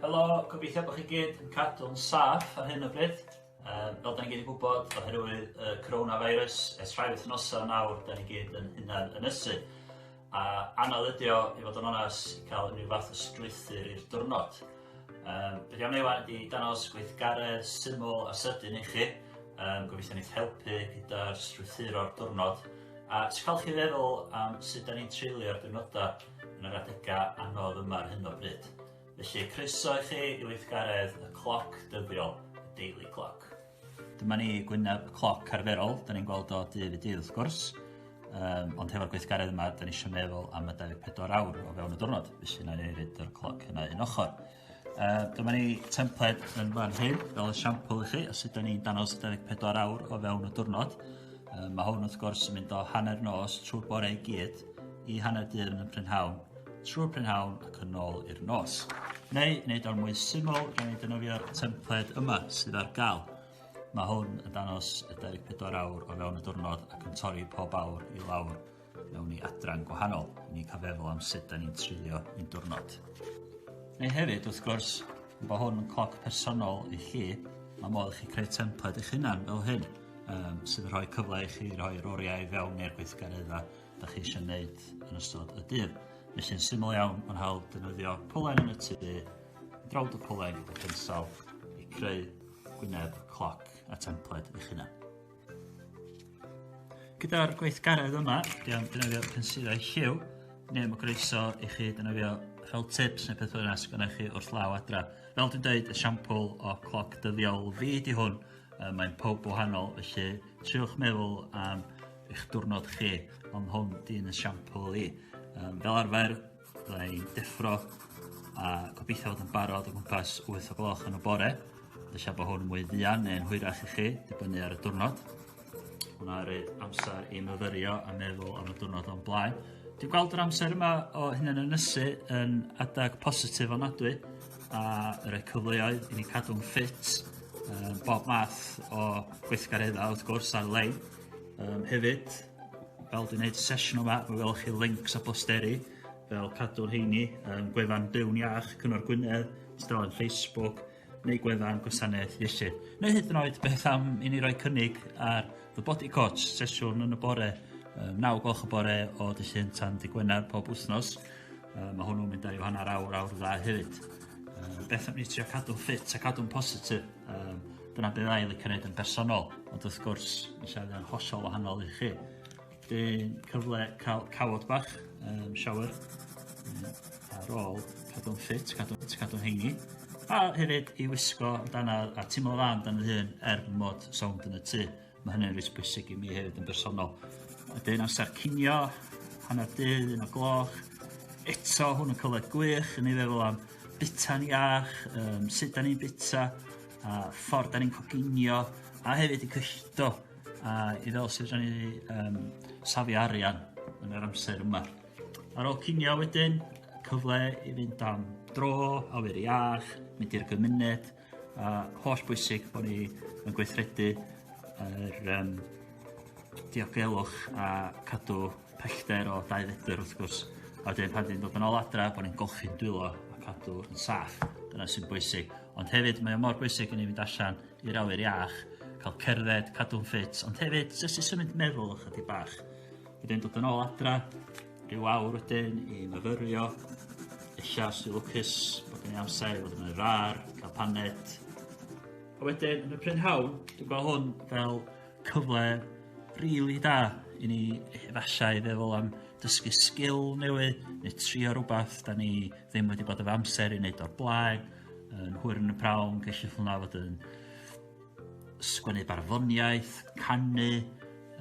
Helo, gobeithio bod chi gyd yn cadw'n saff ar hyn o bryd. Um, fel da ni gyd yn gwybod, oherwydd y uh, coronavirus, ers rhai wythnosau nawr, da ni gyd yn hunan ynysu. A anodd ydi o, i fod yn onas, i cael unrhyw fath o strwythur i'r diwrnod. Um, be di am ei wan ydi danos gweithgaredd syml a sydyn i chi. Um, gobeithio ni'n helpu gyda'r strwythur o'r diwrnod. A ti'n cael chi feddwl am sut da ni'n treulio'r diwrnodau yn yr adegau anodd yma ar hyn o bryd. Felly, croeso i chi i weithgaredd y cloc dyddiol, y daily clock. Dyma ni gwyneb cloc arferol, da ni'n gweld o dydd i dydd wrth gwrs, um, ond hefo'r gweithgaredd yma, da ni eisiau meddwl am y 24 awr o fewn y diwrnod, felly na ni roed yr cloc yna un ochr. Uh, dyma ni templed yn fan hyn, fel y siampl i chi, a sut da ni'n danos 24 awr o fewn y diwrnod. Uh, mae hwn wrth gwrs yn mynd o hanner nos trwy bore i gyd i hanner dydd yn y prynhawn. trwy'r prynhawn ac yn ôl i'r nos. Neu, wneud o'n mwy syml, gen ni defnyddio'r templed yma sydd ar gael. Mae hwn yn danos y 24 awr o fewn y diwrnod ac yn torri pob awr i lawr mewn i adran gwahanol. Ni'n cael feddwl am sut da ni'n treulio un diwrnod. Neu hefyd, wrth gwrs, mae hwn yn cloc personol i chi, mae modd i chi creu templed eich hunan fel hyn, um, sydd yn rhoi cyfle i chi rhoi'r oriau i fewn i'r gweithgareddau da chi eisiau gwneud yn ystod y dydd. Felly'n syml iawn, mae'n hawdd defnyddio polen yn y tu, drawd y polen gyda pensel i creu gwyneb, cloc a templed eich hunan. Gyda'r gweithgaredd yma, dwi am defnyddio pensilau lliw, neu mae groeso i chi defnyddio fel tips neu peth yna sy'n gwneud chi wrth law adra. Fel dwi'n dweud, y siampl o cloc dyddiol fi di hwn, mae'n pob wahanol, felly triwch meddwl am eich diwrnod chi ond hwn 'di un esiampl i. Yym fel arfer fydda i'n deffro a gobeithio fod yn barod o gwmpas wyth o gloch yn y bore. Ella bod hwn yn mwy fuan neu'n hwyrach i chi, dibynnu ar y diwrnod. Hwna rei amser i myfyrio a meddwl am y diwrnod o'n blaen. Dwi'n gweld yr amser yma o hyn yn ynysu yn adag positif onadwy a rhoi cyfleoedd i ni cadw'n ffit bob math o gweithgareddau wrth gwrs ar-lein. Um, hefyd, fel dwi'n gwneud sesiwn yma, fe welwch chi links a posteri fel cadw'r heini, um, gwefan Byw'n Iach, Cyngor Gwynedd, tudalen Facebook, neu gwefan gwasanaeth iechyd. Neu hyd yn oed beth am i ni roi cynnig ar The Body Coach, sesiwn yn y bore, um, 9 gloch y bore o dy llun tan dy Gwener pob wythnos. Um, mae hwnnw'n mynd ar i hanner awr, awr dda hefyd. Um, beth am ni trio cadw'n ffit a cadw'n positif? Yym dyna be' fydda i licio neud yn bersonol ond wrth gwrs ma' siarad yn hollol wahanol i chi. Wedyn cyfle ca'l cawod bach yym shower yy ar ôl cadw'n ffit cadw t- cadw'n heini. A hefyd i wisgo amdana a timlo dda amdan fy hun er mod sownd yn y tŷ. Mae hynny'n reit bwysig i mi hefyd yn bersonol. A dyn amser cinio, hanner dydd, un o gloch. Eto, hwn yn cyfle gwych yn ei feddwl am bita'n iach, um, sut da ni'n bita, a ffordd da ni'n coginio, a hefyd i cyllido a i fel sydd rhan i um, safi arian yn yr amser yma. Ar ôl cinio wedyn, cyfle i fynd am dro, awyr iach, mynd i'r gymuned, A holl bwysig bo' ni yn gweithredu yr yym diogelwch a cadw pellter o dau fetr wrth gwrs a wedyn pan 'dyn ni'n dod yn ôl adra bo' ni'n golchi'n dwylo a cadw yn saff dyna sy'n bwysig ond hefyd mae o mor bwysig i ni fynd allan i'r awyr iach ca'l cerdded cadw'n ffit ond hefyd jyst i symud meddwl ychydig bach wedyn dod yn ôl adra Rhyw awr wedyn i myfyrio. Ella os dwi'n lwcus bod gen i amser i fod yn yr ar, cael paned. A wedyn yn y prynhawn, dwi'n gweld hwn fel cyfle rili da i ni efallai feddwl am dysgu sgil newydd neu trio rhywbeth da ni ddim wedi bod efo amser i wneud o'r blaen, yn hwyr yn y prawn, gallu hwnna fod yn sgwennu barddoniaeth, canu,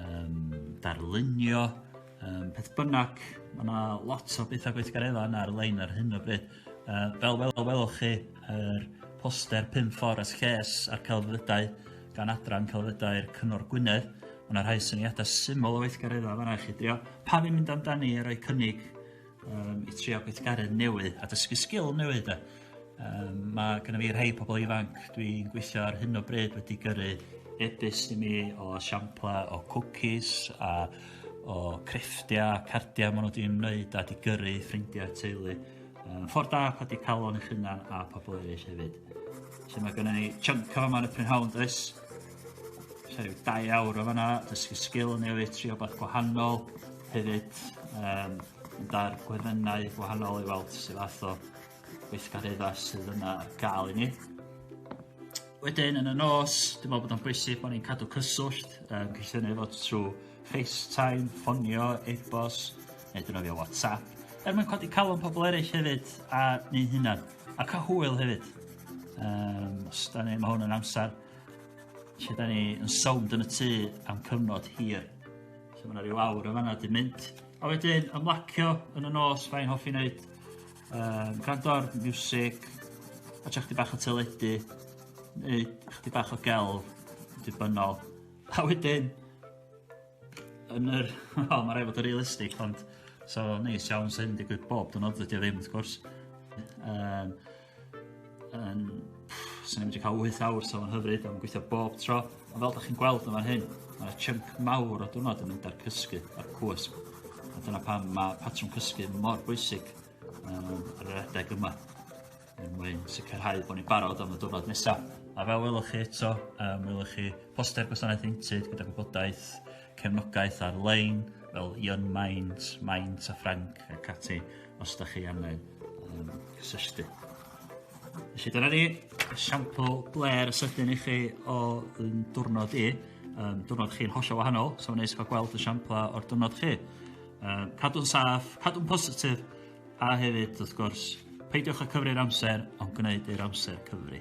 um, darlunio, Um, peth bynnag, mae yna lot o bethau gweithgareddau yna ar-lein ar hyn o bryd. Uh, fel wel, welwch chi, yr poster 5 ffordd as lles a'r celfyddydau gan adran celfyddydau'r Cyngor Gwynedd. Mae yna rhai syniadau syml o weithgareddau fanna i chi drio. Pa fi'n mynd amdani a rhoi cynnig um, i trio gweithgaru newydd a dysgu sgil newydd. Da. Um, mae gennym fi rhai pobl ifanc dwi'n gweithio ar hyn o bryd wedi gyrru ebus i mi o siampla o cwcis a o crefftiau, cardiau maen nhw wedi'n wneud a di gyrru ffrindiau teulu. Um, ffordd da pa di calon eich hunan a pobl eraill hefyd. So mae gennym ni chunk o yma yn y prynhawn does? Sori, da iawn o fanna, dysgu sgil yn newid, tri o beth gwahanol, hefyd um, yn dar gweddennau gwahanol i weld sydd fath o weithgareddau sydd yna gael i ni. Wedyn yn y nos, dwi'n meddwl bod o'n bwysig bod ni'n cadw cyswllt, um, cynllun ei fod trwy FaceTime, ffonio, e-bos, neu dynofio WhatsApp, er mwyn codi calon pobl eraill hefyd a ni'n hunan, a cael hwyl hefyd. Um, os da ni, mae hwn yn amser Lle da ni yn sownd yn y tŷ am cyfnod hir. So mae yna rhyw awr yn fanna di mynd. A wedyn ymlacio yn y nos, fain hoffi wneud. Um, gwrando ar music, a chdi bach o teledu, neu chdi bach o gel, dibynnol. A wedyn, yn yr... O, oh, mae rai fod yn realistig, ond... So, neis iawn sy'n digwydd bob dynod, dydy o ddim, wrth gwrs. Um, Yn... Swn i'n medru ca'l wyth awr so ma'n hyfryd a ma'n gweithio bob tro. A fel 'dach chi'n gweld yn fan hyn ma' 'na chunk mawr o diwrnod yn mynd a'r cysgu a'r cwsg a dyna pam ma' patrwm cysgu mor bwysig yym ar yr adeg yma er mwyn sicrhau bo' ni'n barod am y diwrnod nesa. A fel welwch chi eto yym welwch chi poster gwasanaeth Heintud gyda gwybodaeth cefnogaeth ar-lein fel Young Minds, Minds a Ffrainc ac ati. os da chi angen um, cysylltu. Felly dyna ni esiampl bler sydyn i chi o yn diwrnod i. Um, diwrnod chi'n hollol wahanol, so wneud cael gweld y siampla o'r diwrnod chi. Um, cadw'n saff, cadw'n positif, a hefyd, wrth gwrs, peidiwch â cyfri'r amser, ond gwneud i'r amser cyfri.